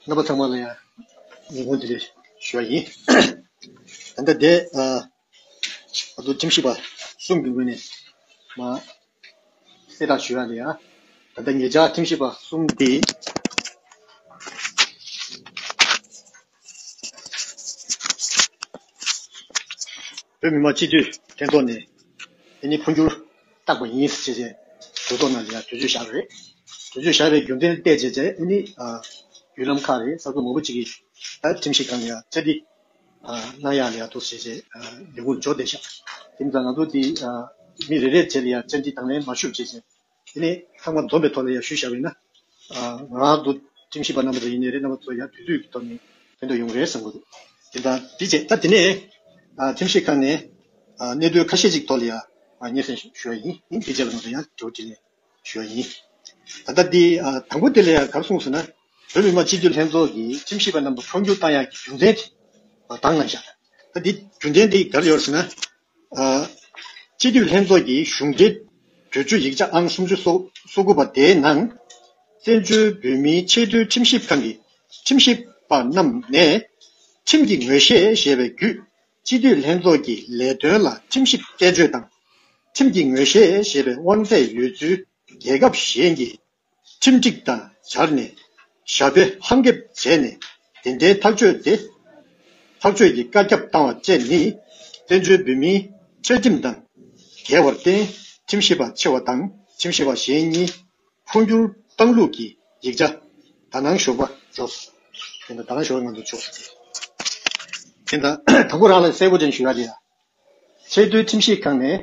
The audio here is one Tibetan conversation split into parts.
རྣམ་པ་ཚང་མ་ལ་ཡང་ཉིན་གུང་དེ་རེད་ཞུ་བ་ཡིན། ད་ལྟ་དེ་ཨ་ཏོ་ཁྲིམས་ཞིབ་པ་གསུམ་གྱི་ངོས་ནས་གསལ་བསྒྲགས་ཞུ་ཡག་ནི་ཡང་ད་ལྟ་ངེད་ཅག་ཁྲིམས་ཞིབ་པ་གསུམ་དེས། བོད་མི་མང་སྤྱི་འཐུས་ལྷན་ཚོགས་ནས་དེ་ནི་འཕོ་འགྱུར། བརྟགས་པ་ཡིན། ཞེས་བྱའི་དོན་རྟོགས་ན་འདི་ཡང་དུས་ཚོད་བཞག་རེད། དུས་ཚོད་བཞག་པའི་རྒྱུ་མཚན་བལྟས་རྗེས་དེ་ནི་བརྒྱུད་ལམ་ཁག་རེད་ས་ཁུལ་མང་པོ་ཅིག་གིས་ཁྲིམས་ཤིག་གང་ནས་ཡང་ཚད་འདི་གནང་ཡག་ལ་ཡག་ཐུག་ཞེས་བྱའི་ལས་ཁུངས་འཇོག་བསྡད་བཞག་དེ་མིན་ད་ང་ཚོ་དེ་མི་རེ་རེས་བྱས་ལ་ཡང་ཚད་འདི་དང་ལེན་མ་ཞུ་བྱས་བྱས་དེ་ནས་ཚང་མ་འཛོམས་པའི་ཐོག་ལ་ཡང་ཞུ་བཞག་བས་ན། ང་དུ་ཁྲིམས་ཞིབ་པ་རྣམ་པ་ཚོ་ཡིན་ནི་རེད་རྣམ་པ་ཚོ་ཡང་དུས་ཚོད་ཀྱི་ཐོག་ནས་དེ་འདྲ་ཡོང་རེད་བསམ་གི་འདུག་དེ་དང་དེ་བཅས་ད་དེ་ནས་ཁྲིམས་ཞིབ་ཁང་ནས་གནད་དོན་ཁ་ཤས་ཅིག་ཐོག་ལ་ཡང་སྙན་སེང་ཞུ་བ་ཡིན་དེ་བཅས་པ་རྣམ་པ་ཚོ་ཡང་དྲི་བ་དྲིས་ལན་ཞུ་བ་ཡིན། ད་ལྟ་དེ་དང་པོ་དེ་ལ་ཡང་གང་གསུངས་ཟེར་ན་བོད་མི་མང་སྤྱི་འཐུས་ལྷན་ཚོགས་ཀྱི་ཁྲིམས་ཞིབ་པ་རྣམ་པ་འཕོ་འགྱུར་བཏང་ཡག་གི་རྒྱུ་མཚན་དེ་དང་ནང་བཞག་ད་དེ་རྒྱུ་མཚན་དེ་ག་རེ་ཡོད་ཟེར་ན། སྤྱི་འཐུས་ལྷན་ཚོགས་ཀྱི་གཞུང་འབྲེལ་གྲོས་ཆོད་ཡིག་ཆ་ཨང་སུམ་ཅུ་སོ་དགུ་པ་དེའི་ནང། བཙན་བྱོལ་བོད་མིའི་ཆེས་མཐོའི་ཁྲིམས་ཞིབ་ཁང་གི་ཁྲིམས་ཞིབ་པ་རྣམས་ནས། ཁྲིམས་ཀྱི་ངོས་བཞེས་ཞེས་པའི་བརྒྱུད་སྤྱི་འཐུས་ལྷན་ཚོགས་ཀྱི་ལས་དོན་ལ་ཁྲིམས་ཞིབ་དཔྱད་བརྗོད་དང། ཁྲིམས་ཀྱི་ངོས་བཞེས་ཞེས་པའི་དབང་ཚད་ཡོད་ཚུལ་རྒྱལ་ཁབ་གཞན་གྱི་ཁྲིམས་སྒྲིག་དང་སྦྱར་ནས་ཞྭ་དཔེ་ལྷམ་འགེབས་བྱས་ནས་དེ་འདྲའི་ཐག་གཅོད་དེ། ཐག་གཅོད་ཀྱི་བཀའ་ཁྱབ་བཏང་བ་བཅས་ནི་བཙན་བྱོལ་བོད་མིའི་བཅའ་ཁྲིམས་དང་འགལ་བར་བརྟེན་ཁྲིམས་ཞིབ་པ་ཆེ་བ་དང་ཁྲིམས་ཞིབ་པ་གཞན་གཉིས་འཕོ་འགྱུར་བཏང་ལུགས་ཀྱི་ཡིག་ཆ་དག་ནང་ཞུགས་པ་རེད། དེ་འདྲ་དག་ནང་ཞུགས་པ་ང་ཚོས་ཆོག་ཤེས་ཀྱི། དེ་འདྲ་དང་པོ་རང་ལ་གསལ་པོ་དྲན་ཞུ་ཡག་གི། ཆེས་མཐོའི་ཁྲིམས་ཞིབ་ཁང་ནས་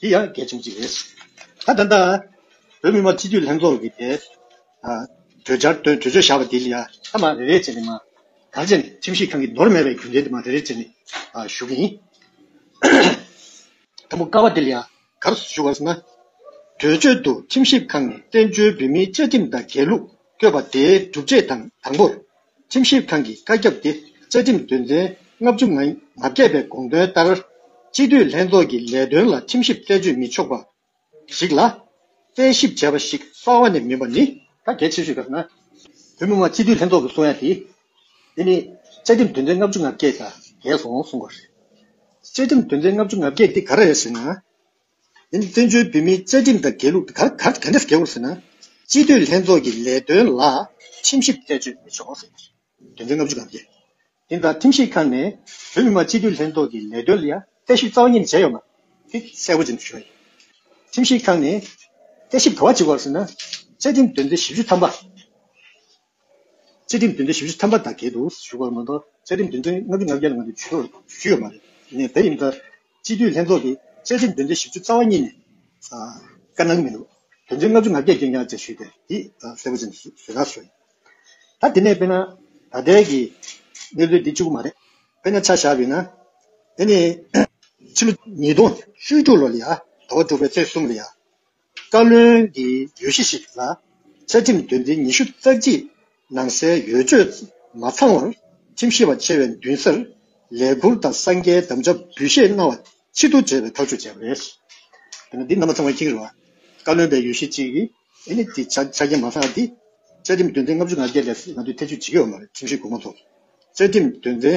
དེ་ཡང་གལ་ཆེན་ཞིག་རེད། ད་ལྟ། བོད་མི་མང་སྤྱི་འཐུས་ལྷན་ཚོགས་ཀྱི་དེ། གྲོས་འཆར་དོན་གྲོས་ཆོད་བཞག་པ་དེ་ལ་ཡང་མཐའ་མ་རེ་རེ་བྱས་ནས་མ། གར་བྱས་ནས་ཁྲིམས་ཞིབ་ཁང་གིས་འདོར་མེད་པའི་རྒྱུ་མཚན་དེ་མ་རེ་རེ་བྱས་ནས་ཞུ་གི་ཡིན། དང་པོ་དཀའ་བ་དེ་ལ་ཡང་གར་ཞུ་བར་སྣང། གྲོས་ཆོད་དུ་ཁྲིམས་ཞིབ་ཁང་ནས་བཙན་བྱོལ་བོད་མིའི་བཅའ་ཁྲིམས་དང་འགལ་ལུགས་བཀོད་པ་དེའི་སྒྲུབ་བྱེད་དང་དང་པོར། ཁྲིམས་ཞིབ་ཁང་གི་བཀའ་ཁྱབ་དེ་བཅའ་ཁྲིམས་དོན་ཚན་ལྔ་བཅུ་ང་བརྒྱད་པའི་དགོངས་དོན་ལྟར། སྤྱི་འཐུས་ལྷན་ཚོགས་ཀྱི་ལས་དོན་ལ་ཁྲིམས་ཞིབ་རྩད་གཅོད་མི་ཆོག་པ་ཞིག་ལ། རྩད་ཞིབ་བྱས་པ་ཞིག་རྩ་བ་ནས་མིན་པ་ནི། ཐ་གལ་ཆེ་ཤོས་ཀྱི་ནང་དོན་མི་དམངས་སྤྱི་འཐུས་ལྷན་ཚོགས་ཀྱི་གསུང་ཡ་དེ། དེ་ནི་བཅའ་ཁྲིམས་དོན་ཚན་ལྔ་བཅུ་ང་བརྒྱད་དང་འགལ་སོང་གསུང་པ་རེད། བཅའ་ཁྲིམས་དོན་ཚན་ལྔ་བཅུ་ང་བརྒྱད་དེ་ག་རེ་རེད་ཟེར་ན། ཡིན། བཙན་བྱོལ་བོད་མིའི་རྩ་ཁྲིམས་དང་འགལ་ལུགས་དེ་ག་ག་འདྲ་འགལ་བ་ཟེར་ན། སྤྱི་འཐུས་ལྷན་ཚོགས་ཀྱི་ལས་དོན་ལ་ཁྲིམས་ཞིབ་རྩད་གཅོད་མི་ཆོག་ཟེར། དོན་ཚན་ལྔ་བཅུ་དང་བརྒྱད། དེ་ལྟར་ཁྲིམས་ཞིབ་ཁང་ནས་བོད་མི་མང་སྤྱི་འཐུས་ལྷན་ཚོགས་ཀྱི་ལས་དོན་ལ་ཡང་རྩད་ཞིབ་རྩ་བ་ཉིད་ནས་བྱས་ཡོད་མ་རེད་གསལ་བོ་བྱེད་དུ་བཅུག་ཡོད། ཁྲིམས་ཞིབ་ཁང་ནས་རྩད་ཞིབ་ག་བ་བྱེད་དགོས་ཟེར་ན། བཅའ་ཁྲིམས་དོན་ཚན་བཞི་བཅུ་ཐམ་པ། བཅའ་ཁྲིམས་དོན་ཚན་བཞི་བཅུ་ཐམ་པ་དང་འགལ་འདུག་ཞུ་བར་མ་གཏོགས་བཅའ་ཁྲིམས་དོན་ཚན་ལྔ་བཅུ་ང་བརྒྱ་ལ་ང་ཚོས་ཇུས་ཞུས་ཡོད་མ་རེད། ངས་དེ་ཡིན་ལྟར། སྤྱི་འཐུས་ལྷན་ཚོགས་ཀྱིས་བཅའ་ཁྲིམས་དོན་ཚན་བཞི་བཅུ་རྩ་བ་གཉིས་ནས། བཀའ་གནང་གི་མི་འདུག་དོན་ཚན་ལྔ་བཅུ་ང་བརྒྱད་ཀྱིས་ཀྱང་ཅེས་ཞུས་ཏེ་འདི་གསལ་པོ་ཅན་བཟོས་ན་བཟོས། ད་དེ་ནས་དཔེར་ན་ད་ལྟའི་གི་གནས་ཚུལ་འདི་བཅུ་པོ་མ་རེད། དཔེར་ན་ཆ་བཞག་བས་ན། དེ་ནི། ཕྱི་ལོ་ཉིས་སྟོང་བཅུ་དྲུག་ལོ་ལ་ཡ་ད་བ་དཀྲུགས་པའི་ཚེས་གསུམ་ལ་ཡ། བཀའ་བློན་གྱི་ཡུལ་གཞི་ཞིག་ལ་བཅའ་ཁྲིམས་དོན་ཚན་ཉི་ཤུ་རྩ་གཅིག་ནང་གསལ་ཡོད་ཆོས་མ་ཚང་བར་ཁྲིམས་ཞིབ་པ་ཆེ་བའི་མདུན་སར་ལས་འཁུར་དང་གསང་རྒྱའི་གདམ་བྱ་འབུལ་བཞེས་གནང་བ་ཆེད་དུ་བྲེལ་བའི་ཐག་གཅོད་བྱས་པ་རེད། བཀའ་བློན་པའི་ཡུལ་གཞི་གཅིག་གིས་ནི་དེ་ཆ་རྐྱེན་མ་ཚང་སྟེ། བཅའ་ཁྲིམས་དོན་ཚན་ལྔ་བཅུ་ང་བརྒྱད་ལས་ང་ཚོས་ཐེ་བྱུས་བྱེད་ཀྱི་ཡོད་མ་རེད་ཁྲིམས་ཞིབ་གོང་མ་ཚོར་བཅའ་ཁྲིམས་དོན་ཚན།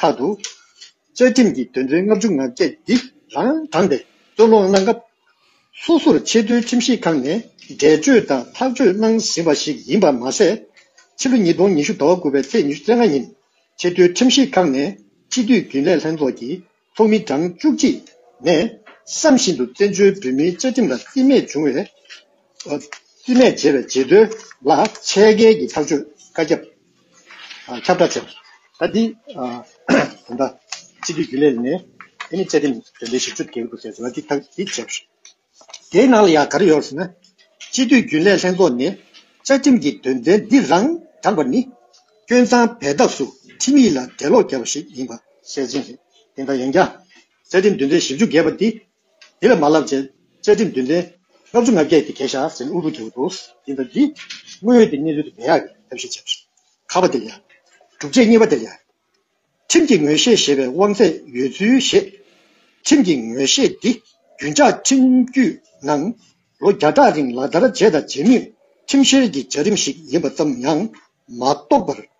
ཁག་ཏུ། བཅའ་ཁྲིམས་ཀྱི་དོན་ཚན་ལྔ་བཅུ་ང་བརྒྱད་འདི་རང་དྲངས་ཏེ་རྩོད་སློང་གནང་སྐབས། སོ་སོར་ཆེས་མཐོའི་ཁྲིམས་ཞིབ་ཁང་ནས་འགྲེལ་བརྗོད་དང་ཐག་གཅོད་གནང་ཟིན་པ་ཞིག་ཡིན་པར་མ་ཟད། ཕྱི་ལོ་ཉིས་སྟོང་ཉི་ཤུ་ཟླ་བ་དགུ་པའི་ཚེས་ཉི་ཤུ་རྩ་ལྔ་ཉིན་ཆེས་མཐོའི་ཁྲིམས་ཞིབ་ཁང་ནས་སྤྱི་འཐུས་རྒྱུན་ལས་ལྷན་ཚོགས་ཀྱི་ཚོགས་མི་གྲངས་བཅུ་གཅིག་ནས་བསམ་བཞིན་དུ་བཙན་བྱོལ་བོད་མིའི་བཅའ་ཁྲིམས་ལ་རྩིས་མེད་བྱུང་བའི་རྩིས་མེད་བྱས་པའི་རྗེས་ཟློས་ལ་ཆད་འགེལ་གྱི་ཐག་གཅོད་བཀའ་ཁྱབ། ཁྱབ་བསྒྲགས་བྱས། ད་འདི། ད་ལྟ། སྤྱི་འཐུས་རྒྱུན་ལས་ནས། ཨ་ནི་བཅའ་ཁྲིམས་དོན་ཚན་ཞེ་བཅུ་དགེ་བསྡུ་བྱས་ཟེར་བ་འདི་དག་གིས་བྱས། དེའི་ནང་ལ་ཡང་ག་རེ་ཡོད་ཟེར་ན། སྤྱི་འཐུས་རྒྱུན་ལས་ལྷན་ཚོགས་ནས་བཅའ་ཁྲིམས་ཀྱི་དོན་ཚན་འདི་རང་དྲངས་པ་ནི། སྐྱོན་མཚང་བས་འདགས་སུ་ཁྲིམས་ཡིག་ལ་འགྲེལ་ལོག་བརྒྱབ་པ་ཞིག་ཡིན་པ་གསལ་བཞིན་རེད། དེ་འདྲ་ཡིན་ཀྱང། བཅའ་ཁྲིམས་དོན་ཚན་ཞེ་བཅུ་བརྒལ་བ་འདི་འདི་ལ་མ་བསླབ་ཅེས་བཅའ་ཁྲིམས་བདུན་ལྡན། ལྔ་བཅུ་ང་བརྒྱད་ཀྱི་གས་ཞགས་ཟིན་དབུལ་པོ་རྒྱལ་པོ་འདུག་འདི་དང་འདི། དངོས་ཡོད་དེ་གཉིས་ལུས་དུ་མེ་ཡག་གི་ཐབས་ཤེས་བྱས། ཁ་བ་འདིར་ཡག། སྒྲུབ་བྱེད་གཉིས་པ་འདིར་ཡག། ཁྲིམས་ཀྱི་ངོས་བཞེས་ཞེས་པའི་དབང་ཚད་ཡོད་ཚུལ་བཞེད། ཁྲིམས་ཀྱི་ངོས་བཞེས་འདི་རྒྱུན་འཇགས་ཁྲིམས་རྒྱུད་ནང་ལོ་བརྒྱ་ཕྲག་རིང་ལག་བསྟར་བྱས་དང་བྱེད་མུས་ཁྲིམས་བཤེར་གྱི་བྱ་རིམ་ཞིག་ཡིན་པ་ཙམ་ཡང་མ་རྟོགས་པར་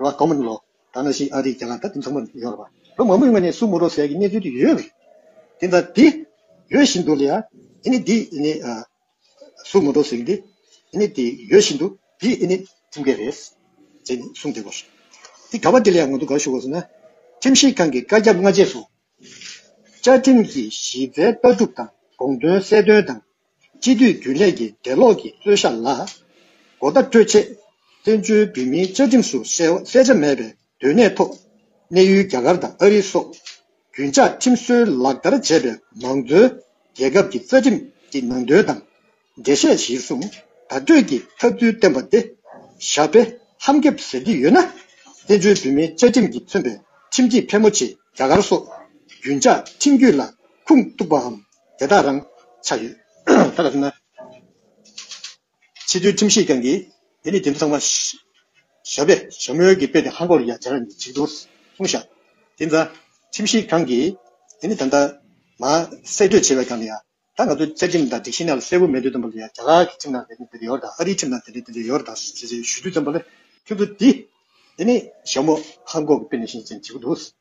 རོ་ཨ་གོ་མ་ནི་ལོ་ད་ནང་བཞིན་ཨ་རིའི་རྒྱ་གར་ད་དུང་ཚང་མ་ཡོད་རོ་བ་ལོ་མང་པོའི་སྔོན་ནས་སུ་མོ་རོ་ཟས་ཀྱི་གནས་ཚུལ་དུ་ཡོད་རེད་དེ་ད་དེ་ཡོད་བཞིན་དུ་ལ་ཡ་ཨི་ནི་དེ་ཨི་ནི་སུ་མོ་རོ་ཟས་ཀྱི་དེ་ཨི་ནི་དེ་ཡོད་བཞིན་དུ་དེ་ཨི་ནི་ཁྲིམས་འགལ་རེད་ཟེར་ནས་གསུངས་དེ་གོ་དེ་ག་བ་དེ་ལ་ཡ་ངོ་དུ་ག་ཞུ་གོ་ཟེར་ན་ཁྲིམས་ཞིབ་ཁང་གི་བཀའ་རྒྱ་མངའ་རྗེས་སུ་བཅའ་ཁྲིམས་ཀྱི་གཞི་རྩའི་ལྟ་གྲུབ་དང་དགོངས་དོན་གསལ་སྟོན་དང་སྤྱི་འཐུས་རྒྱུན་ལས་ཀྱི་འགྲེལ་ལོག་གི་རྩོད་གཞག་ལ་སྒོ་རྟ་སྤྲོད་ཆེད། བཙན་བྱོལ་བོད་མིའི་བཅའ་ཁྲིམས་སུ་གསལ་ཆ་མེད་པའི་སྡོད་གནས་ཐོག་གནས་ཡུལ་རྒྱ་གར་དང་ཨ་རི་སོགས་རྒྱུན་བཅའ་ཁྲིམས་སྲོལ་ལག་བསྟར་བྱས་པའི་མང་གཙོའི་རྒྱལ་ཁབ་ཀྱི་རྩ་ཁྲིམས་ཀྱི་ནང་དོན་དང་འགྲེལ་བཤད་གཞིར་བཟུང་བརྡ་སྤྲོད་ཀྱི་ཐབས་ཚུལ་བསྟན་པ་དེ་ཞྭ་དཔེ་ཧམ་འགེབས་ཟེར་གྱི་ཡོད་ན། བཙན་བྱོལ་བོད་མིའི་བཅའ་ཁྲིམས་ཀྱིས་མཚོན་པའི་ཁྲིམས་སྒྲིག་ཕལ་མོ་ཆེ་རྒྱ་གར་སོགས་རྒྱུན་བཅའ་ཁྲིམས་རྒྱུད་ལ་ཁུངས་གཏུགས་པའམ། དེ་དག་རང་ཆགས་ཡོད། ད་ལྟ་ན། ཕྱི་དྲོའི་ཁྲིམས་ཤེས་ཀྱང་གིས། དེ་ནི་དེ་ཚོ་ཚང་མ། ཞབས་པད་ཞབས་མོལ་གྱི་དཔེ་དེ་ཧ་གོ་ཡ་བྱས་ན་འཇིགས་འདུག་གསུངས་ཤག། དེ་ཚ། ཁྲིམས་ཤེས་ཀྱང་གིས། དེ་ནི་ད་ལྟ་ན། གསེད་བཀྲོལ་བྱས་པའི་སྒང་ལ་ཡ། ད་ང་ཚོའི་བཅའ་ཁྲིམས་དང་སྒྲིག་གཞི་ནང་ལ་གསལ་བོ་མེད་དུས་དང་པོ་ལ་ཡ་རྒྱ་གར་གྱི་ཁྲིམས་ནང་དེ་འདྲ་དེ་འདྲ་ཡོད་དང་ཨ་རིའི་ཁྲིམས་ནང་དེ་འདྲ་དེ་འདྲ་ཡོད་དང་ཞེས་ཞུ་དུས་དང་པོ་ལ། ཁྱོད་ཚོ་དེ། དེ་ནི་ཞབས་མོ་ཧ་གོ་གི་དཔེ་ནི་ཤིན་ཅང་འཇིགས་འདུག་གསུངས།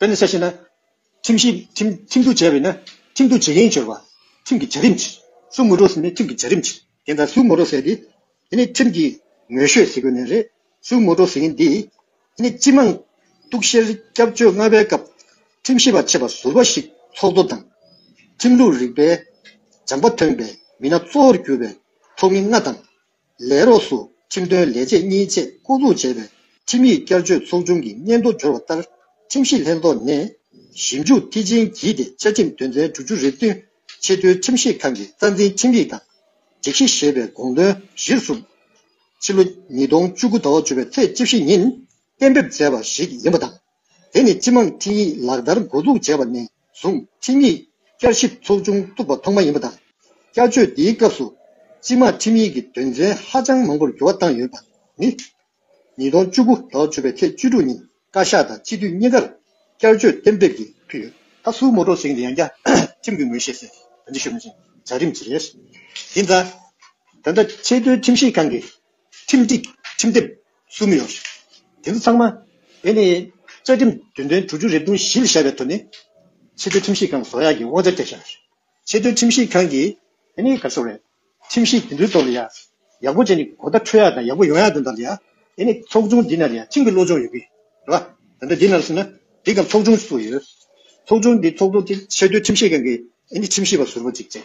བོད་ནས་གསལ་བཤད་ན། ཁྲིམས་ཞིབ། ཁྲིམས་བསྡུ་བྱས་པས་ན། ཁྲིམས་བསྡུ་བྱེད་མཁན་འབྱོར་བ། ཁྲིམས་ཀྱི་བྱ་རིམ། སུ་ངོ་སྤྲོད་ཟིན་ནས་ཁྲིམས་ཀྱི་བྱ་རིམ། དེ་ལྟར་སུ་ངོ་སྤྲོད་ཟེར་དེ། དེ་ནི་ཁྲིམས་ཀྱི། ངོས་ཤོད་ཟེར་དགོས་ནི་རེད། སུ་ངོ་སྤྲོད་ཟེར་མཁན་འདི། དེ་ནི་སྤྱི་དམངས། གཏུག་བཤེར་སྐྱབས་བཅོལ་ལྔ་པའི་སྐབས། ཁྲིམས་ཞིབ་པ་ཆེ་བ་ཟུར་བ་ཞིག་ཚོགས་འདུ་དང། ཁྲིམས་ལུགས་རིག་པའི། སྦྱངས་པ་ཐོན་པའི་མི་སྣ་གཙོ་བོར་གྱུར་པའི་ཚོགས་མི་ལྔ་དང། ལས་རོགས་སུ་ཁྲིམས་དོན་ལས་བྱེད་གཉིས་བཅས་བསྐོ་འཛུགས་བྱས་པའི་ཁྲིམས་ཡིག་བསྐྱར་བཅོས་ཚོགས་ཆུང་གི་སྙན་ཐོ་འབྱོར་བ་ལྟར་ཁྲིམས་ཞིབ་ལྷན་ཚོགས་ནས་ཞིབ་འཇུག་མཐིལ་ཕྱིན་བགྱིས་ཏེ་བཅའ་ཁྲིམས་དོན་ཚན་དྲུག་ཅུ་རེ་བདུན་ཆེས་མཐོའི་ཁྲིམས་ཞིབ་ཁང་གི་རྩ་འཛིན་ཁྲིམས་ཡིག་དང་སྒྲིག་གཞི་ཞེས་པའི་དགོངས་དོན་གཞིར་བཟུང། ཕྱི་ལོ་ཉིས་སྟོང་བཅུ་དགུ་ཟླ་བ་བཅུ་པའི་ཚེས་བཅུ་བཞི་ཉིན་གཏན་འབེབས་མཛད་པ་ཞིག་ཡིན་པ་དང། དེ་ནི་སྤྱི་དམངས་འཕྲིན་ཡིག་ལག་བསྟར་མགོ་འཛུགས་བྱས་པ་ནས་བཟུང་འཕྲིན་ཡིག་བསྐྱར་ཞིབ་ཚོགས་ཆུང་བཙུགས་པ་ཐོག་མ་ཡིན་པ་དང། བསྐྱར་བཅོས་འདིའི་སྐབས་སུ་སྤྱི་དམངས་ཁྲིམས་ཡིག་གི་དོན་ཚན་ཧ་ཅང་མང་པོར་འགྱུར་བ་བཏང་ཡོད་པ་ནི། ཉིས་སྟོང་བཅུ་དགུ་ཟླ་བ་བཅུ་པའི་ཚེས་བཅུ་དྲུག་ཉིན་བཀའ་ཤག་དང་སྤྱི་འཐུས་གཉིས་ཀར་བསྐྱར་བཅོས་གཏན་འབེབས་ཀྱིས་ཕུལ་ཡོད། ད་སུའི་ངོ་སྤྲོད་ཟིན་ཏེ་ཡང་བསྐྱར་ཁྲིམས་ཀྱི་ངོས་བཞེས་སའི་དོན་ཚན་ཞུ་མི་ཆོག་བྱ་རིམ་ཇི་རེད། དེ་མཚམས། ད་ལྟ་ཆེས་མཐོའི་ཁྲིམས་ཞིབ་ཁང་གིས་ཁྲིམས་སྒྲིག་ཁྲིམས་དེབ་གསུམ་ཡོད། དེ་ཚོ་ཚང་མ་བོད་ནས་རྩ་ཁྲིམས་དོན་ཚན་དྲུག་ཅུ་རེ་བདུན་བཞི་ལ་བཞག་པའི་ཐོག་ནས། ཆེས་མཐོའི་ཁྲིམས་ཞིབ་ཁང་བཟོ་ཡག་གི་དབང་ཆ་སྤྲད་ཤག། ཆེས་མཐོའི་ཁྲིམས་ཞིབ་ཁང་གིས། དེ་ནི་ག་སོག་རེད། ཁྲིམས་ཞིབ་དེ་ཚོའི་ཐོག་ལ་ཡག་ཡག་པོ་བྱས་ནས་གོ་བརྡ་འཕྲོད་ཡག་དང་ཡག་པོ་ཡོང་ཡག་དོན་དག་ལ་ཡག། དེ་ནི་ཚོགས་ཆུང་འདི་ན་ཡག་ཁྲིམས་ཀྱི་བློ་སྦྱོང་ཡོད་གི། རེད་པ། ད་ལྟ་འདི་ན་སོང་ན་སྒྲིག་སྐབས་ཚོགས་ཆུང་ཞིག་ཚུགས་ཡོད། ཚོགས་ཆུང་འདི་ཚོགས་ཐོག་ཆེས་མཐོའི་ཁྲིམས་ཞིབ་ཁང་གིས་ཨ་ནི་ཁྲིམས་ཞིབ་པ་ཟུར་པོ་གཅིག་བཙལ།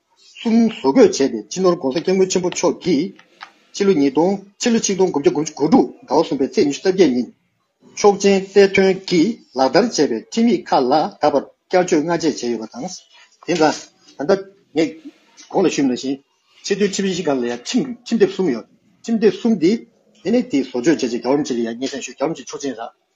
གསུམ་བཟོ་འགོད་བྱས་པའི་སྤྱི་ནོར ྋགོང་ས ྋསྐྱབས་མགོན་ཆེན་པོ་མཆོག་གིས། ཕྱི་ལོ་ཉིས་སྟོང་ཕྱི་ལོ་ཆིག་སྟོང་དགུ་བརྒྱ་དགུ་ཅུ་དགུ་དྲུག་ཟླ་བ་གསུམ་པའི་ཚེས་ཉི་ཤུ་རྩ་བརྒྱད་ཉིན། ཆོག་མཆན་རྩེ་དོན་གྱིས་ལག་བསྟར་བྱས་པའི་ཁྲིམས་ཡིག་ཁག་ལ་ད་བར་བསྐྱར་བཅོས་སྔ་རྗེས་བྱས་ཡོད་པ་དང། དེ་ན་ད་ལྟ་ངས་གོང་ལ་ཞུས་མ་བཞིན་ཆེས་མཐོའི་ཁྲིམས་ཡིག་ཁག་ལ་ཡང་ཁྲིམས་དེབ་གསུམ་ཡོད། ཁྲིམས་དེབ་གསུམ་དེ་ནི་དེའི་བཟོ་བཅོས་བྱས་རྗེས་རྒྱ་བོད་མི་བཅས་ལ་ཡང་ཉེ་ཞིང་ཞོལ་རྒྱ་བོད་མི་བཅས་ཆོག་མཆན་རག་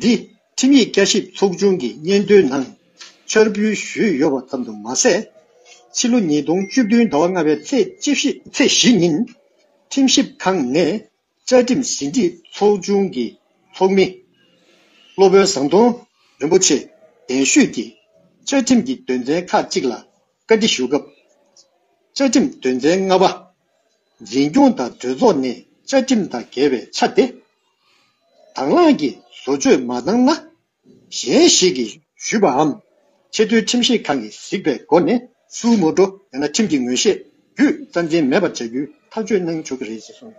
འདིས་ཁྲིམས་ཡིག་བསྐྱར་ཞིབ་ཚོགས་ཆུང་གི་སྙན་ཐོའི་ནང་འཆར་འབུལ་ཞུས་ཡོད་པ་ཙམ་དུ་མ་ཟད། ཕྱི་ལོ་ཉིས་སྟོང་བཅུ་བདུན་ཟླ་བ་ལྔ་པའི་ཚེས་བཞི་ཉིན་ཁྲིམས་ཞིབ་ཁང་ནས་བཅའ་ཁྲིམས་ཟིན་བྲིས་ཚོགས་ཆུང་གི་ཚོགས་མི་སློབ་དཔོན་ཟམ་གདོང་རིན་པོ་ཆེས་གདན་ཞུས་ཀྱིས་བཅའ་ཁྲིམས་ཀྱི་དོན་ཚན་ཁག་གཅིག་ལ་བཀའ་འདྲི་ཞུ་སྐབས། བཅའ་ཁྲིམས་དོན་ཚན་ལྔ་པ། འཛིན་སྐྱོང་དང་གྲོས་ཚོགས་ནས་བཅའ་ཁྲིམས་དང་འགལ་བའི་ཆ་དེ་དང་བླངས་ཀྱིས་བཟོ་བཅོས་མ་བཏང་ན། གཞན་ཞིག་གིས་ཞུས་པའམ་ཆེས་མཐོའི་ཁྲིམས་ཞིབ་ཁང་གིས་གཟིགས་པའི་སྒོ་ནས་སུའུ་མོ་ཏོ་ཡང་ན་ཁྲིམས་ཀྱི་ངོས་བཞེས་བརྒྱུད་རྩ་འཛིན་མེད་པར་བྱ་རྒྱུའི་ཐག་གཅོད་གནང་ཆོག་གི་རེད་ཅེས་གསུངས།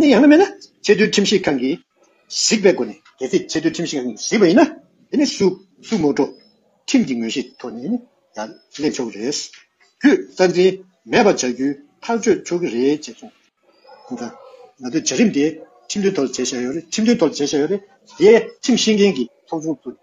ནི་ཡང་ན་མེད་ན་ཆེས་མཐོའི་ཁྲིམས་ཞིབ་ཁང་གིས་གཟིགས་པའི་སྒོ་ནས་གལ་སྲིད་ཆེས་མཐོའི་ཁྲིམས་ཞིབ་ཁང་གིས་གཟིགས་པ་ཡིན་ན་དེ་ནི་སུས་སུ་ངོ་སྤྲོད་ཁྲིམས་ཀྱི་ངོས་གཞི་ཐོག་ནས་ཡང་སླེབས་ཆོག་གི་རེད། བརྒྱུད་རྩ་འཛིན་མེད་པ་བྱ་རྒྱུའི་ཐག་གཅོད་ཆོག་གི་རེད་ཅེས་གསུངས། ཁོང་ཀྱང། ང་ཚོའི་བྱ་རིམ་དེ་ཁྲིམས་མཐུན་ཐོག་བྱེད་བཞག་ཡོད་རེད་ཁྲིམས་མཐུན་ཐོག་བྱེད་བཞག་ཡོད་རེད། དེས་ཁྲིམས་ཤེས་མཁན་གྱི་ཚོགས་ཆུང་བཙུགས།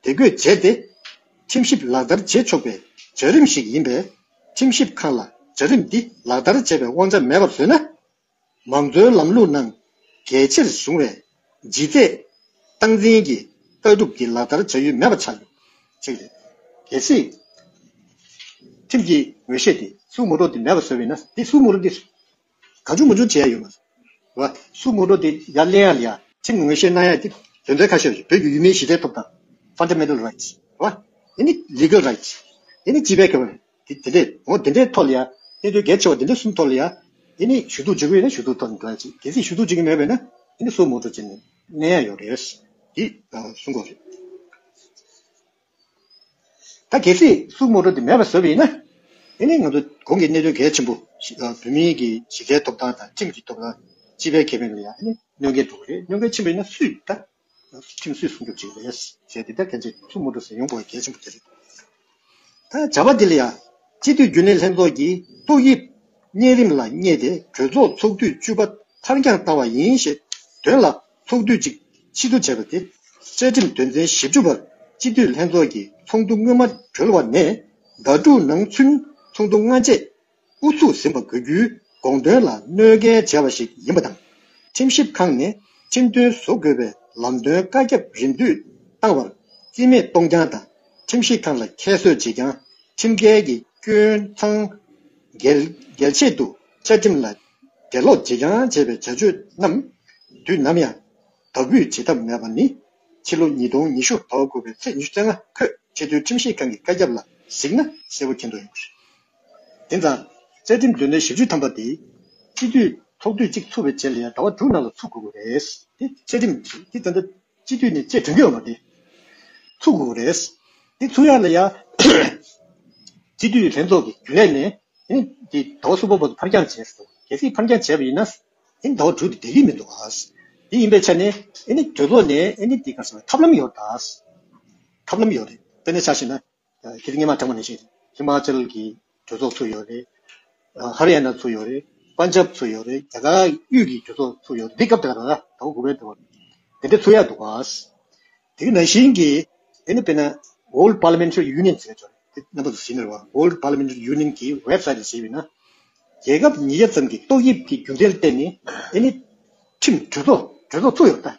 བདེ་འགོད་བྱས་ཏེ། ཁྲིམས་ཞིབ་ལག་བསྟར་བྱེད་ཆོག་པའི་བྱ་རིམ་ཞིག་ཡིན་པས། ཁྲིམས་ཞིབ་ཁང་ལ་བྱ་རིམ་འདི་ལག་བསྟར་བྱེད་པའི་དབང་ཆ་མེད་པར་བཟོས་ན། མང་གཙོའི་ལམ་ལུགས་ནང་གལ་ཆེར་བཟུང་བའི་ལྗིད་ཚད། སྟངས་འཛིན་གྱི་ལྟ་གྲུབ་འདི་ལག་བསྟར་བྱ་ཡུལ་མེད་པ་ཆགས་ཡོད། གཅིག་རེད། གལ་སྲིད། ཁྲིམས་ཀྱི་ངོས་བཞེས་དེ་སྲུང་མུ་རོ་དེ་མེད་པར་བཟོས་བས་ན་དེ་སྲུང་མུ་རོ་དེ། གང་བྱུང་མ་བྱུང་བྱས་ཡོད་པ། སུ་ངོ་སྤྲོད་དེ་ཡར་གླེང་ཡར་ལ། ཚིག་ངོ་བཤད་གནང་ཡག་གིས་དོན་དོན་ཁ་ཤས་རེད་བོད་ཀྱི་ཡུལ་མིའི་གཞི་རྩའི་ཐོབ་ཐང། Fundamental Rights། དེ་ནི Legal Rights། དེ་ནི་སྤྱི་པའི་ཁེ་ཕན། དེ་འདྲའི་ངོ་དེ་འདྲའི་ཐོག་ལ་ཡ། དེ་འདྲའི་གལ་ཆེ་བ་དེ་འདྲའི་གསུམ་ཐོག་ལ་ཡ། དེ་ནི་ཞུ་གཏུག་བྱེད་ཀྱི་ཡོད་ན་ཞུ་གཏུག་ཐོག་ལ་འགྲོ་ཡག་ཅིག་གལ་སྲིད་ཞུ་གཏུག་བྱེད་ཀྱི་མེད་པས་ན། དེ་ནི་སུ་ངོ་སྤྲོད་བྱེད་གནང་ཡག་ཡོད་རེད། འདི། གསུང་དགོངས་རེད། ད་གལ་སྲིད་སུ་རྨོ་རུ་དེ་མེད་པ་བཟོ་བའི་ཡིན་ན། དེ་ནི་ང་ཚོ་གོང་གི་གནད་དོན་གལ་ཆེན་པོ་ཞིག་ལ་བོད་མིའི་གི་གཞི་རྩའི་ཐོབ་ཐང་དང་ཁྲིམས་ཀྱི་ཐོབ་ཐང་སྤྱི་པའི་ཁེ་ཕན་ལ་ཡང་གནོད་འགལ་འགྲོ་གི་རེད་གནོད་འགལ་ཆེན་པོ་ཡིན་ན་སུས་ད་ཁྲིམས་སུས་སྲུང་སྐྱོབ་བྱེད་ཀྱི་རེད་ཟེར་དེ་ད་གལ་སྲིད་སུ་རྨོ་རུ་ཟེར་ཡོང་དགོས་གལ་ཆེན་པོ་དེ་རེད་ད་བྱ་བ་དེ་ལ་ཡང་སྤྱི་འཐུས་རྒྱུན་ལས་ལྷན་ཚོགས་ཀྱིས་ཏོག་དབྱིབས་གཉན་རིམས་ལ་བསྙད་དེ་གྲོས་ཚོགས་ཚོགས་དུས་བཅུ་པ་འཕར་འགྱངས་བཏང་བ་ཡིན་ཞེས་དོན་ལ་ཚོགས་དུས་གཅིག་ཕྱི་དྲོ་བྱས་པ་དེ། བཅའ་ཁྲིམས་དོན་ཚན་བཞི་བཅུ་པར་སྤྱི་འཐུས་ལྷན་ཚོགས་ཀྱི་ཚོགས་འདུ་སྔོན་མ་གྲོལ་བ་ནས་ཟླ་དྲུག་ནང་ཚུན་ཚོགས་འདུ་སྔ་རྗེས་དབུ་ཚུགས་ཟིན་པ་དགོས་རྒྱུའི་དགོངས་དོན་ལ་གནོད་འགལ་བྱས་པ་ཞིག་ཡིན་པ་དང། ཁྲིམས་ཞིབ་ཁང་ནས་ཁྲིམས་མཐུན་བཟོ་དགོས་པའི་ལམ་སྟོན་བཀའ་ཁྱབ་རིམ་བསྟུད་བཏང་བར་རྩིས་མེད་གཏོང་རྐྱང་དང་ཁྲིམས་ཞིབ་ཁང་ལ་ཁྱད་གསོད་བྱེད་རྐྱང་ཁྲིམས་འགལ་གྱི་སྐྱོན་མཚང་འགེལ་ཆེད་དུ་བཅའ་ཁྲིམས་ལ་དགེ་སློབ་ཀྱིས་ཀྱང་བྱས་པའི་བྱ་སྤྱོད་རྣམས་དུས་ནམ་ཡང་དག་འབུད་བྱེད་ཐབས་མེད་པ་ནི། ཕྱི་ལོ་ཉིས་སྟོང་ཉི་ཤུ་དོ་དགུ་པའི་ཚེས་བཅུ་ཚེས་ལྔ་ཁོས་ཆེས་མཐོའི་ཁྲིམས་ཞིབ་ཁང་གི་བཀའ་ཁྱབ་ལ་གཟིགས་ན་གསལ་པོ་མཁྱེན་དོགས་ཡོང་གི་རེད། དེང་སང། བཅའ་ཁྲིམས་དོན་ཚན་བཞི་བཅུ་ཐམ་པ་དེ། སྤྱི་འཐུས་ཚོགས་དུས་གཅིག་ཚུགས་པའི་རྗེས་ལ་ཡང་ཟླ་བ་དྲུག་ནང་ལ་ཚུགས་དགོས་པ་རེད་དེ། བཅའ་ཁྲིམས་དེ་བཙན་བྱོལ་སྤྱི་འཐུས་ནི་ཆེས་དོན་གྱི་བ་དེ་ཚུགས་དགོས་རེད། དེ་ཚུགས་ཡ་ལ་ཡ། སྤྱི་འཐུས་ལྷན་ཚོགས་ཀྱི་རྒྱུན་ལས་ནས་དེ་དོགས་གསུམ་པོ་པོ་ཕར་འགྱངས་བྱས་སོང། གལ་སྲིད་ཕར་འགྱངས་བྱས་པ་ཡིན་ན། དེ་དོགས་དྲུག་དེ་བསྡད་ཀྱི་མི་འདུག། དེ་ཡིན་པའི་ཆ་ནས། གྲོས་ཚོགས་ནས་ཐབས་ལམ་ཡོད། ཐབས་ལམ་ཡོད་རེད། དཔེར་ན་ཆ་བཞིན་ན། ཁྱེད་ཀྱི་སྙེ་མ་གྲགས་པ་ནས་བཤད། ཧི་མ་ཅལ་གྱི་གྲོས་ཚོགས་ཚུགས་ཡོད་རེད། ཧ་རི་ཡ་ན་ཚུགས་ཡོད་རེད། པན་ཇབ་ཚུགས་ཡོད་རེད། རྒྱ་གར་དབུས་ཀྱི་གྲོས་ཚོགས་ཚུགས་ཡོད་རེད། འདི་སྐབས་དེ་ག་ལ་དང་དགོས་པའི་དོན་རེད། དེ་འདྲ་ཚུགས་ཡག་འདུག་བ། དེ་གི་ན་གཞིན་གྱི་དེ་ནི་དཔེར་ན། World Parliamentary Union ཟེར་བྱུང་རེད། དེ་རྣམ་པ་ཟིན་ནི་རེད་བ། World Parliamentary Union གྱི Web Site ལ་བྱས་པས་ན། རྒྱལ་ཁབ་ཉིས་བརྒྱ་ཙམ་གྱི་ཏོག་དབྱིབས་ཀྱི་རྒྱུ་མཚན་བརྟེན་ནས་དེ་ནི་ཁྲིམས་གྲོས་ཚོགས་གྲོས་ཚོགས་ཚུགས་ཡོད་རེད།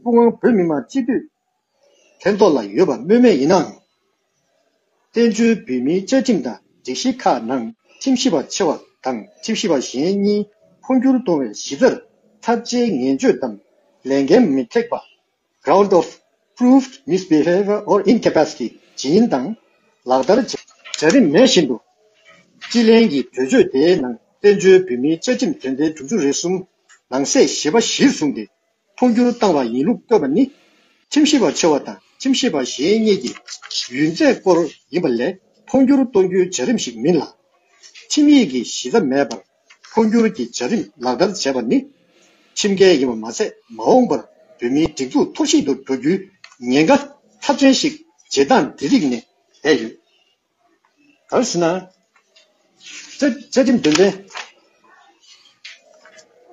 དབུ་དབང་བོད་མི་མང་སྤྱི་འཐུས་ཕན་ཐོགས་ལ་ཡོད་པ་སྨོས་མེད་ཡིན་ནའང། བཙན་བྱོལ་བོད་མིའི་བཅའ་ཁྲིམས་དང་སྒྲིག་གཞི་ཁག་ནང་ཁྲིམས་ཞིབ་པ་ཆེ་བ་དང་ཁྲིམས་ཞིབ་པ་གཞན་གཉིས་འཕོ་འགྱུར་གཏོང་བའི་གཞི་རྩར་ཚབས་ཆེའི་ངན་སྤྱོད་དམ་ལས་འགན་མི་ཐེག་པ། Ground of Proved Misbehavior or Incapacity། ཇི་ཡིན་དང། ལག་བསྟར་བྱ་རིན་མེད་བཞིན་དུ། སྤྱི་ལྷན་གྱི་གྲོས་ཆོད་དེའི་ནང་བཙན་བྱོལ་བོད་མིའི་བཅའ་ཁྲིམས་དོན་ཚན་དྲུག་ཅུ་རེ་གསུམ་ནང་གསེས་བཞི་པ་གཞིར་བཟུང་སྟེ་འཕོ་འགྱུར་བཏང་བ་ཡིན་ལུགས་བཀོད་པ་ནི། ཁྱིམ་གཞི་བ་ཆེ་བ་དང་ཁྱིམ་གཞི་བ་གཞན་གཉིས་ཀྱི་ཡུན་ཚད་སྐོར་ཡིན་པ་ལས་འཕོ་འགྱུར་གཏོང་རྒྱུའི་བྱ་རིམ་ཞིག་མིན་ལ། ཁྱིམ་ཡིག་གི་གཞི་རྩ་མེད་པར་འཕོ་འགྱུར་གྱི་བྱ་རིམ་ལག་བསྟར་བྱས་པ་ནི། ཁྱིམ་སྐལ་ཡིན་པ་མ་ཟད་མ་འོངས་པར་བོད་མིའི་སྒྲིག་འཛུགས་འཐོར་བཤིག་ཏུ་འགྲོ་རྒྱུའི་ཉེན་ཁ་ཚབས་ཆེན་ཞིག་བྱེད་སྟངས་འདི་རིགས་ནས་བསྡད་ཡོད། གང་ཞེ་ན། བཅའ་ཁྲིམས་དོན་ཚན་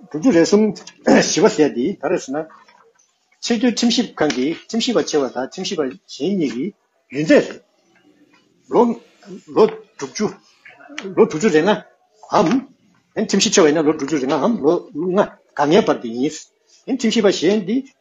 དྲུག་ཅུ་རེ་གསུམ་བཞི་བ་ཟད་དེ་ག་རེ་ཞེ་ན། ཆེས་མཐོའི་ཁྲིམས་ཞིབ་ཁང་གི་ཁྲིམས་ཞིབ་པ་ཆེ་བ་དང་ཁྲིམས་ཞིབ་པ་གཞན་གཉིས་ཀྱི་ཡུན་ཚད་རེད། ལོ་དྲུག་ཅུ་རེ་ལྔའམ། ཁྲིམས་ཞིབ་ཆེ་བ་ཡིན་ན་ལོ་དྲུག་ཅུ་རེ་ལྔའམ་ལོ་ལྔ་ག་ལྔའི་བར་དུ་ཡིན། ཁྲིམས་ཞིབ་པ་གཞན་དེ་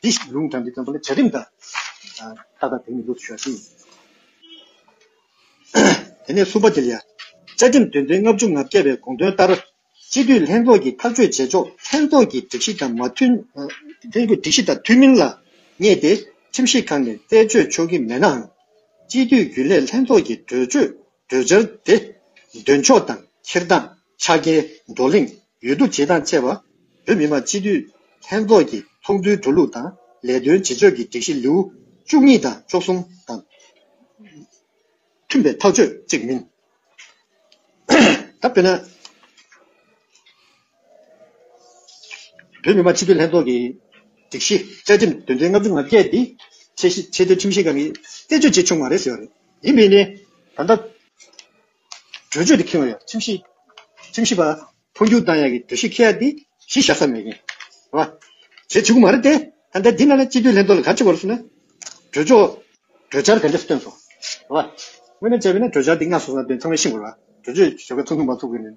འདི་ཞིག་ལུང་དྲངས་ཏེ་བརྩམས་པ་ལ་བྱ་རིམ་དང། ཏག་ཏག་དེང་ནས་ལུགས་སུ་ཤར་ཞིང། དེ་ནས་བསུ་བ་འདི་ལ་ཡང། བཅའ་ཁྲིམས་དོན་ཚན་ལྔ་བཅུ་ང་བརྒྱད་པའི་དགོངས་དོན་ལྟར། སྤྱི་འཐུས་ལྷན་ཚོགས་ཀྱིས་ཐག་གཅོད་བྱེད་ཕྱོགས་ལྷན་ཚོགས་ཀྱི་སྒྲིག་གཞི་དང་མ་མཐུན། ལྷན་ཚོགས་སྒྲིག་གཞི་དང་མཐུན་མིན་ལ་བསྙད་དེ་ཁྲིམས་ཞིབ་ཁང་ནས་རྩད་གཅོད་ཆོག་གི་མེད་ནའང། སྤྱི་འཐུས་རྒྱུན་ལས་ལྷན་ཚོགས་ཀྱི་གྲོས་ཆོད། གྲོས་འཆར་དེ་འདོན་ཕྱོགས་དང་འཁྱེར་སྟངས་ཆ་རྐྱེན་བགྲོ་གླེང་ཡུལ་དུ་བྱེད་སྟངས་བཅས་པ་བོད་མི་མང་སྤྱི་འཐུས་ལྷན་ཚོགས་ཀྱི་ཚོགས་འདུའི་འགྲོ་ལུགས་དང་ལས་དོན་བྱེད་ཕྱོགས་ཀྱི་སྒྲིག་གཞི་ལེའུ་བཅུ་གཉིས་དང་བཅུ་གསུམ་དང་མཐུན་པའི་ཐག་གཅོད་ཅིག་མིན། ད་དཔེར་ན། བོད་མི་མང་སྤྱི་འཐུས་ལྷན་ཚོགས་ཀྱི་སྒྲིག་གཞི་བཅའ་ཁྲིམས་དོན་ཚན་ལྔ་བཅུ་ང་བརྒྱད་འདི་ཆེས་ཆེ་མཐོའི་ཁྲིམས་ཞིབ་ཁང་གིས་རྩད་གཅོད་བྱས་ཆོག་མ་རེད་ཟེར་བ་རེད། ཡིན་མིན་ནི་ད་ལྟ་གྲོས་ཆོད་དུ་འཁེལ་བ་ཡང་ཁྲིམས་ཞིབ་ཁྲིམས་ཞིབ་པ་འཕོ་འགྱུར་བཏང་ཡག་གི་གྲོས་གཞི་འཁེལ་ཡག་འདི་གཞི་བཞག་ས་མེད་མཁན་རེད། བྱེད་བྱེད་ཁུ་མ་རེད་དེ། ད་ལྟ་འདི་ན་ན་སྤྱི་འཐུས་ལྷན་ཚོགས་ལ་ག་ཅི་བར་སོང་ན་གྲོས་ཆོག་གྲོས་འཆར་ག་འདྲ་བཏོན་སོང། དངོས་ནས་བྱས་པས་ན་གྲོས་འཆར་འདི་སྔ་སོང་ས་དོན་ཚང་མས་ཤེས་དགོས་ལ་གྲོས་ཆོད་ཞོར་ཁ་ཐུང་ཐུང་མ་ཚུགས་དགོས་ནི་མེད།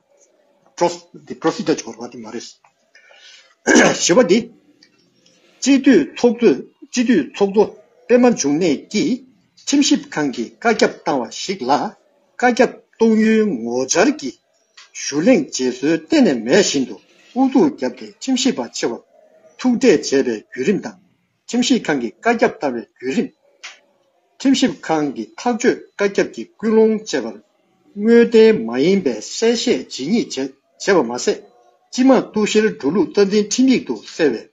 Procedure འཆོར་བ་དེ་མ་རེད། ཞེས་པ་འདི། སྤྱི་འཐུས་ཚོགས་གཙོ་པད་མ་འབྱུང་གནས་ཀྱིས་ཁྲིམས་ཞིབ་ཁང་གིས་བཀའ་ཁྱབ་བཏང་བ་ཞིག་ལ་བཀའ་ཁྱབ་གཏོང་ཡུལ་ངོ་བཅར་གྱི་ཞུ་གླེང་བརྗེད་སྲོལ་གཏན་ནས་མེད་བཞིན་དུ་ཨུ་ཚུགས་བརྒྱབ་སྟེ་ཁྲིམས་ཞིབ་པ་ཆེ་བར་ཐུག་འཕྲད་བྱས་པའི་བརྒྱུད་རིམ་དང། ཁྲིམས་ཞིབ་ཁང་གི་བཀའ་ཁྱབ་ལྟ་བའི་བརྒྱུད་རིམ། ཁྲིམས་ཞིབ་ཁང་གི་ཐག་གཅོད་བཀའ་ཁྱབ་ཀྱི་སྐུལ་སློང་བཅས་པར་དངོས་བདེན་མ་ཡིན་པའི་གསལ་བཤད་ཇི་སྙེད་བྱས་བྱས་པ་མ་ཟད། སྤྱི་དམངས་གཏུག་བཤེར་འགྲོ་ལུགས་རྩ་འཛིན་ཁྲིམས་ཡིག་ཏུ་གསལ་བའི་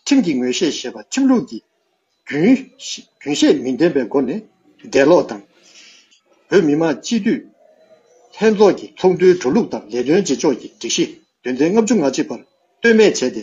ཁྲིམས་ཀྱི་ངོས་བཞེས་ཞེས་པ་ཁྲིམས་ལུགས་ཀྱི་རྒྱུན་རྒྱུན་ཤེས་མི་ལྡན་པའི་སྒོ་ནས་འགྲེལ་ལོག་དང། བོད་མི་མང་སྤྱི་འཐུས་ལྷན་ཚོགས་ཀྱི་ཚོགས་འདུའི་འགྲོ་ལུགས་དང་ལས་དོན་བྱེད་ཕྱོགས་ཀྱི་སྒྲིག་གཞི་དོན་ཚན་ལྔ་བཅུ་ང་གཅིག་པར་ལྟོས་མེད་བྱས་ཏེ་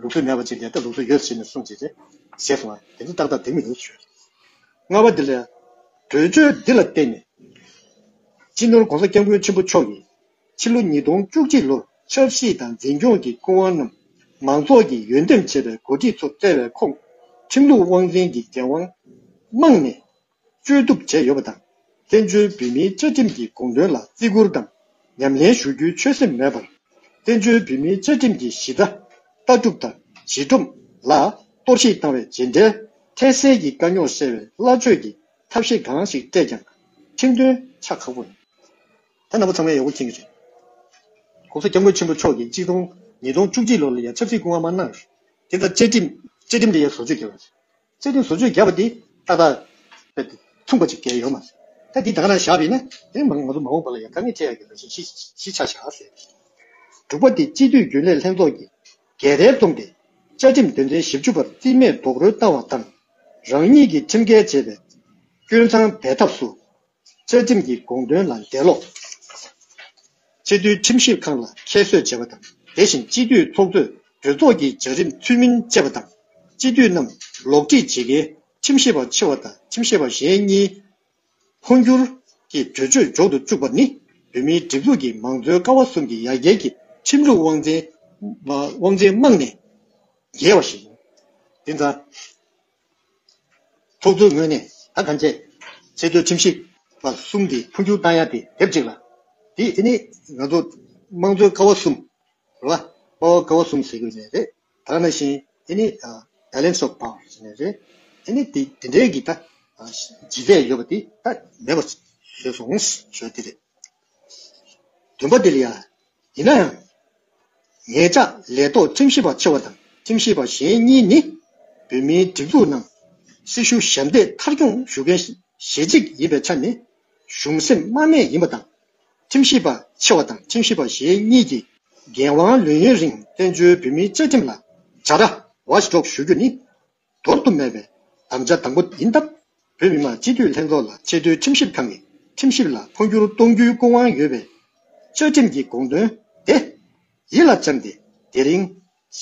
ལུགས་སྲོལ་མེད་པ་ཅིག་ལས་ད་ལུགས་སྲོལ་ཡོད་ཟེར་ནས་གསུངས་རྗེས། ཟས་སོང་བ་དེ་ཚོ་ཏག་ཏག་བདེན་མི་བདེན་ཞུས། རྔ་བ་འདི་ལ། གྲོས་ཆོད་འདི་ལ་བརྟེན་ནས། སྤྱི་ནོར ྋགོང་ས ྋསྐྱབས་མགོན་ཆེན་པོ་མཆོག་གིས། ཕྱི་ལོ་ཉིས་སྟོང་བཅུ་གཅིག་ལོར་ཆབ་སྲིད་དང་འཛིན་སྐྱོང་གི་སྐུ་དབང་རྣམས་མང་ཚོགས་ཀྱིས་ཡོན་འདེམས་བྱས་པའི་འགོ་ཁྲིད་ཚོ་བཙལ་བའི་ཁོངས། ཁྲིམས་ལུགས་དབང་འཛིན་གྱི་འགན་དབང། རྨང་ནས་བཅོས་བསྡུ་བྱས་ཡོད་པ་དང། བཙན་བྱོལ་བོད་མིའི་བཅའ་ཁྲིམས་ཀྱི་དགོངས་དོན་ལ་བརྩི་བཀུར་དང་ཉམས་ལེན་ཞུ་རྒྱུའི་ཆོད་སེམས་མེད་པར། བཙན་བྱོལ་བོད་མིའི་བཅའ་ཁྲིམས་ཀྱི་གཞི་རྩ། ལྟ་གྲུབ་དང་གཞི་སྒྲོམ། ལ་གཏོར་བཤིག་བཏང་བའི་རྗེས་འབྲེལ་ཐད་གསལ་གྱི་དཀའ་རྙོག་སེལ་བའི་སླ་ཆོས་ཀྱི་ཐབས་ཤེས་གང་ཞིག་སྤྲད་ཀྱང། ཁྲིམས་དོན་ཆ་ཁག་པོ་ནས། ད་ནང་པ་ཚང་མའི་ཡག་པོ་མཁྱེན་གྱི་རེད། གོང་ས་སྐྱབས་མགོན་ཆེན་པོ་མཆོག་གིས་གཅིག་སྟོང་ཉིས་སྟོང་བཅུ་གཅིག་ལོར་ལ་ཡང་ཆབ་སྲིད་སྐུ་དབང་མ་གནང། དེ་ལྟར་བཅའ་ཁྲིམས། བཅའ་ཁྲིམས་དེ་ཡང་བཟོ་བཅོས་བྱས་པ་རེད། བརྩེ་དུང་ཟུར་ཆོས་བརྒྱབ་པ་འདི་ཏག་ཏག་མཚུངས་པ་ཅིག་གལ་ཡོད་མ་རེད། ད་འདི་དག་ན་བཞག་བས་ན་དེ་མང་ངོ་ཚོ་མ་འོངས་པ་ལ་ཡང་དཀའ་ངལ་འཕྲད་ཡག་གི་རང་བཞིན་གཞི་ཆགས་ཤག་ཟེར། དྲུག་པ་འདི་སྤྱི་འཐུས་རྒྱུན་ལས་ལྷན་ཚོགས་ཀྱི་འགལ་ཟླའི་རྩོམ་སྟེ། བཅའ་ཁྲིམས་དོན་ཚན་བཞི་བཅུ་པར་རྩིས་མེད་རྡོག་རོལ་བཏང་བ་དང། རང་ཉིད་ཀྱིས་ཁྲིམས་འགལ་བྱས་པའི་སྐྱོན་མཚང་འབད་ཐབས་སུ་རྩ་ཁྲིམས་ཀྱི་དགོངས་དོན་ལ་འགྲེལ་ལོག། སྤྱི་འཐུས་ཁྲིམས་ཞིབ་ཁང་ལ་ཁྱད་གསོད་བྱས་པ་དང་དེ་བཞིན་སྤྱི་འཐུས་ཚོགས་གཙོས་གྲོས་ཚོགས་ཀྱི་བྱ་རིམ་ཚུལ་མིན་སྤྱད་པ་དང། སྤྱི་འཐུས་རྣམས་ལོག་ཁྲིད་བྱེད་མཁན་ཁྲིམས་ཞིབ་པ་ཆེ་བ་དང་ཁྲིམས་ཞིབ་པ་གཞན་གཉིས་འཕོ་འགྱུར་གྱིས་གྲོས་ཆོད་འཇོག་ཏུ་བཅུག་པ་ནི་བོད་མིའི་སྒྲིག་འཛུགས་ཀྱི་མང་གཙོའི་ཀ་བ་གསུམ་གྱི་ཡ་གྱལ་གྱི་ཁྲིམས་ལུགས་དབང་ཆེན་དམག་ནས་འགྱེལ་བ་ཞིག་ཡིན། དེ་མཚམས། ཚོགས་གཙོའི་ངོས་ནས་ད་ཐམས་ཅད་ཚད་མཐོའི་ཁྲིམས་ཞིབ་པ་གསུམ་དེ་འཕོ་འགྱུར་བཏང་ཡ་དེ་དེབ་ཅིག་ལ་དེ་དེ་ནི་ང་ཚོ་དམངས་གཙོའི་ཀ་བ་གསུམ་རེད་བ། པ་བ་ཀ་བ་གསུམ་ཟེར་རྒྱུ་ནས་རེད་ད་ནང་བཞིན་དེ་ནི Balance of Power ཟེར་ནས་རེད། དེ་ནི་དེ་དེ་འདྲའི་གི་ད་ཇི་ཟེར་ཡོད་པ་དེ་ད་མེད་པ་བཟོས་སོང་ཟོས་དེ་རེད། བདུན་པ་འདིར་ཡང། ཡིན་ན་ཡང། ངེད་ཅག་ལས་ཐོག་ཁྲིམས་ཞིབ་པ་ཆེ་བ་དང་ཁྲིམས་ཞིབ་པ་གཞན་གཉིས་ནི། བོད་མིའི་སྒྲིག་འཛུགས་ནང་སྲི་ཞུ་ཞབས་འདེགས་མཐར་སྐྱོང་ཞུ་མཁན་ཞེ་གཅིག་ཡིན་པའི་ཆ་ནས། གཞུང་སེམས་དམའ་མེད་ཡིན་པ་དང། ཁྲིམས་ཞིབ་པ་ཆེ་བ་དང་ཁྲིམས་ཞིབ་པ་གཞན་གཉིས་ཀྱིས་འགན་དབང་ལོན་ཡུན་རིང་བཙན་བྱོལ་བོད་མིའི་བཅའ་ཁྲིམས་ལ། བྱ་ར། Watchdog། ཞུ་རྒྱུ་ནི། འདོར་དུ་མེད་པའི་དམ་བཅའ་དང་པོ་ཡིན་སྟབས། བོད་མི་མང་སྤྱི་འཐུས་ལྷན་ཚོགས་ལ་ཆེས་མཐོའི་ཁྲིམས་ཞིབ་ཁང་གི་ཁྲིམས་ཞིབ་ལ་འཕོ་འགྱུར་གཏོང་རྒྱུའི་སྐུ་དབང་ཡོད་པའི་བཅའ་ཁྲིམས་ཀྱི་དགོངས་དོན་དེ་ཡིད་ལ་བཅངས་ཏེ་དེ་རིང་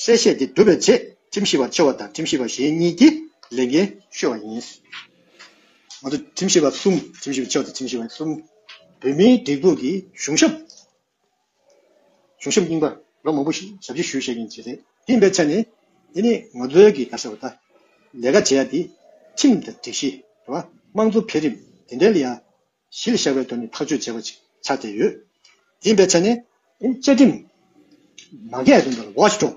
གསལ་བཤད་དེ་སྒྲུབ་པའི་ཆེད་ཁྲིམས་ཞིབ་པ་ཆེ་བ་དང་ཁྲིམས་ཞིབ་པ་གཞན་གཉིས་ཀྱིས་ལས་འགན་ཤོར་བ་ཡིན། ང་ཚོ་ཁྲིམས་ཞིབ་པ་གསུམ་ཁྲིམས་ཞིབ་པ་ཆེ་བ་དང་ཁྲིམས་ཞིབ་པ་གསུམ་བོད་མིའི་སྒྲིག་འཛུགས་ཀྱི་གཞུང་ཞབས་བྱུང་ཞིབ་རྙིང་པ་ལོ་མང་པོ་ཞིག་ཞབས་ཕྱི་ཞུས་བྱས་ཀྱིན་བྱས་རེད། དེ་ཡིན་པའི་ཚེ་ནི་དེ་ནི་ངོ་ཚོལ་གྱི་ག་ས་བ་ད། ལས་ཀ་བྱེད་ཡ་དེ་ཁྲིམས་དང་སྒྲིག་གཞི་རེད་བ། དམངས་གཙོ་འཕེལ་རིམ་དེ་འདྲའི་ལ་ཡ་གཞི་ལ་བཞག་པའི་དོན་ནི་ཐག་གཅོད་བྱས་པ་ཅིག་ཆགས་བསྡད་ཡོད། དེ་ཡིན་པའི་ཚེ་ནི། བཅའ་ཁྲིམས། མ་འགལ་དོན་དུ་ལ་ཝོ་ཆི་ཀྲོའུ།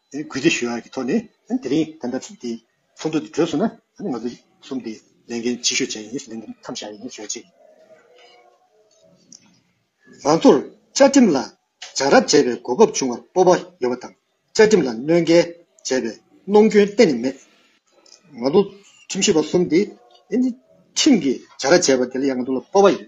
གུས་བརྩི་ཞུ་ཡག་གི་ཐོག་ནས་དེ་རིང་ད་ལྟ་དེ་ཚོགས་འདུ་དེ་གྲོལ་སོང་ན་ང་ཚོ་གསུམ་དེ་ལས་འགན་ཆེ་ཤོས་བྱས་ཡིན་ལས་འགན་མཚམས་བཞག་ཡིན་ཟེར་ཅིག། ང་ཚོར་བཅའ་ཁྲིམས་ལ་སྦྱང་རབ་བྱས་པའི་གོ་སྐབས་བྱུང་བར་སྤོབས་པ་ཡོད་པ་དང་བཅའ་ཁྲིམས་ལ་གནོད་འགལ་བྱས་པའི་གནོང་སྐྱོན་གཏན་ནས་མེད། ང་ཚོ་ཁྲིམས་ཞིབ་པ་གསུམ་དེ་ཁྲིམས་ཀྱི་སྦྱང་ར་བྱས་པ་དེ་ལ་ཡང་ང་ཚོ་ལ་སྤོབས་པ་ཡོད།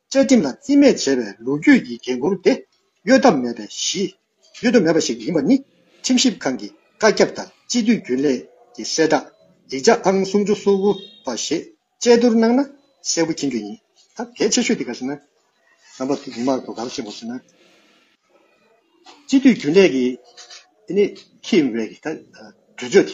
བཅའ་ཁྲིམས་ལ་བརྩི་མེད་བྱས་པའི་ལོ་རྒྱུས་ཀྱི་འགན་ཁུར་དེ་གཡོལ་ཐབས་མེད་པའི་གཞི། གཡོལ་ཐབས་མེད་པ་ཞིག་ཡིན་པ་ནི་ཁྲིམས་ཞིབ་ཁང་གི་བཀའ་ཁྱབ་དང་སྤྱི་འཐུས་རྒྱུན་ལས་ཀྱི་གསལ་བསྒྲགས་ཡིག་ཆ་ཨང་སུམ་ཅུ་སོ་དགུ་པ་ཞེས་དཔྱད་བསྡུར་གནང་ན་གསལ་པོ་མཁྱེན་རྒྱུ་ཡིན། ད་གལ་ཆེ་ཤོས་དེ་ག་ཟེར་ན། རྣམ་པ་དེ་མི་མང་དུ་གང་བཞེངས་པ་ཟེར་ན། སྤྱི་འཐུས་རྒྱུན་ལས་ཀྱི་ཁེངས་པའི་དུས་ཚོད་དེ།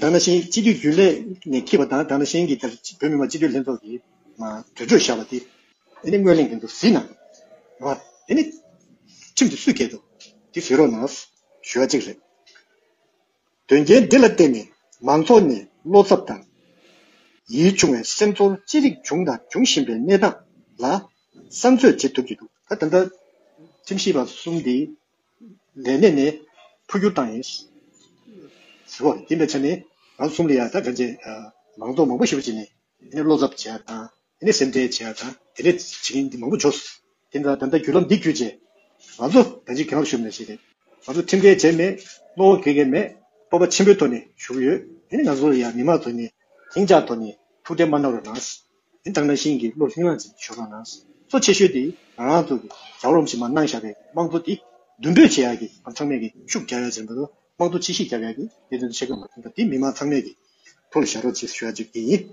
དང་ན་ཤན་སྤྱི་འཐུས་རྒྱུན་ལས་ནས་ཁྱེད་པ་དང་དང་ན་ཤན་གྱི་དེར་བོད་མི་མང་སྤྱི་འཐུས་ལྷན་ཚོགས་ཀྱི་དུད་ཁྲོད་བཞག་པ་དེ། དེ་ནི་སྔོན་གླེང་གི་འདུག་བཟི་ན། རེད་བ། དེ་ནི། ཁྲིམས་དེ་སུས་བཀལ་འདུག། དེ་བཟི་རོགས་གནང། ཞུ་བ་གཅིག་རེད། དོན་རྐྱེན་འདི་ལ་བརྟེན་ནས་མང་ཚོགས་ནས་བློ་འཚབ་དང། ཡིད་ཆུང་བའི་སེམས་ཚོར་ཅི་རིགས་བྱུང་དང་འབྱུང་བཞིན་པའི་གནས་སྟངས་ལ། བསམ་ཚོད་བྱེད་ཐུབ་ཀྱི་འདུག་ད་ད་ལྟ། ཁྲིམས་ཞིབ་པ་གསུམ་དེ། ལས་གནས་ནས་འཕོ་འགྱུར་བཏང་ཡིན། ཟེར་བ་ཡིན་པའི་ཆ་ནས་རང་གསུམ་ལ་ཡང་དགྲ་རྒྱལ་མང་ཚོགས་མང་པོ་ཞིག་པོ་བྱས་ནས་བློ་འཚབ་བྱས་པ་དང་དེ་ནས་སེམས་ཁྲལ་བྱས་པ་དང་དེ་ནས་བྱེད་མཁན་འདི་མང་པོ་འབྱོར། དེ་འདྲ་ད་ལྟ་བརྒྱུད་ལམ་འདི་བརྒྱུད་རྗེས་ང་ཚོ་རང་གཅིག་གི་ངང་བཞུགས་མེད་ཞེས་རེད། ང་ཚོ་ཁྲིམས་འགལ་བྱས་མེད་བློ་འགེལ་མཁན་མེད་སྤོབས་པ་ཆེན་པོའི་ཐོག་ནས་བཞུགས་ཡོད་དེ་ནི་ང་ཚོ་ཡང་མི་མང་ཚོ་ནས་ལྷིང་འཇགས་ཐོག་ནས་ཐུགས་ཁྲལ་མ་གནང་རོགས་གནང། དེ་ལྟར་ན་ཤིང་གི་གླུ་ལྷིང་ལ་ཅིག་ཞུ་དགོས་ན། གཙོ་ཆེ་ཤོས་དེ་རང་རང་ཚུགས་ཀྱི་ཟ་བ་རུམ་ཞིག་མ་གནང་བཞག་པའི་དམངས་གཙོ་དེ་མདུན་སྤོས་བྱེད་ཡག་གི་ཨམ་ཕྲག་མེད་གི་ཤུགས་རྒྱག་ཡག་ཅན་པ་དང་དམངས་གཙོ་ཕྱི་ཤིག་རྒྱབ་ཡག་གི་ལས་དོན་བྱེད་དགོས་མ་ཡིན་པ་དེ་མི་དམངས་ཚང་མས་ཀྱི་ཐུགས་ལ་བཞག་རོགས་གཅིག་ཞུ་ཡག་གཅིག་དེ་ཡིན།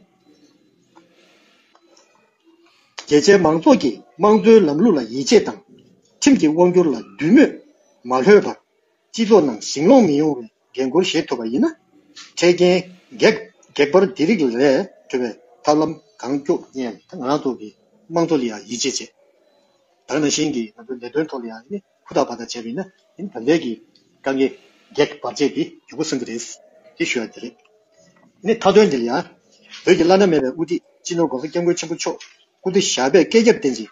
རྒྱལ་གཅེས་མང་ཚོགས་ཀྱིས་དམངས་གཙོའི་ལམ་ལུགས་ལ་ཡིད་ཆེས་དང། ཁྲིམས་ཀྱི་དབང་སྒྱུར་ལ་བསྡུས་མོས་མ་ལྷོད་པར། སྤྱི་ཚོགས་ནང་ཞིང་ལོངས་མི་ཡོང་བའི་འགན་ཁུར་བཞེས་ཐུབ་པ་ཡིན་ན། འཕྲལ་རྐྱེན་གེགས་བར་འདི་རིགས་ལས་གྲོལ་བའི་ཐབས་ལམ་གང་སྐྱོ་ཡན་ད་ང་རང་ཐོག་གི་དམངས་གཙོ་ལ་ཡང་ཡིད་ཆེས་བྱེད། དག་ན་ཤིང་གི་ང་ཚོའི་ལས་དོན་ཐོག་ལ་ཡང་ནི་ཕུ་ཐག་བར་ཐག་བྱས་པ་ཡིན་ན་ད་ལྟའི་གི་དཀའ་ངལ་གེགས་བར་བྱས་ཏེ་རྒྱུ་བུ་སོན་གྱི་རེད། ཅེས་ཞུ་ཡ་དེ་རེད། ནི་མཐའ་དོན་འདི་ལ་ཡང། བོད་ཀྱི་བླ་ན་མེད་པའི་དབུ་ཁྲིད་སྤྱི་ནོར་འགོ་གསོ་སྐྱབས་མགོན་ཆེན་པོ་མཆོག་སྐུ་བདེ་ཞགས་པས་བསྐལ་བརྒྱར་བརྟན་ཅིང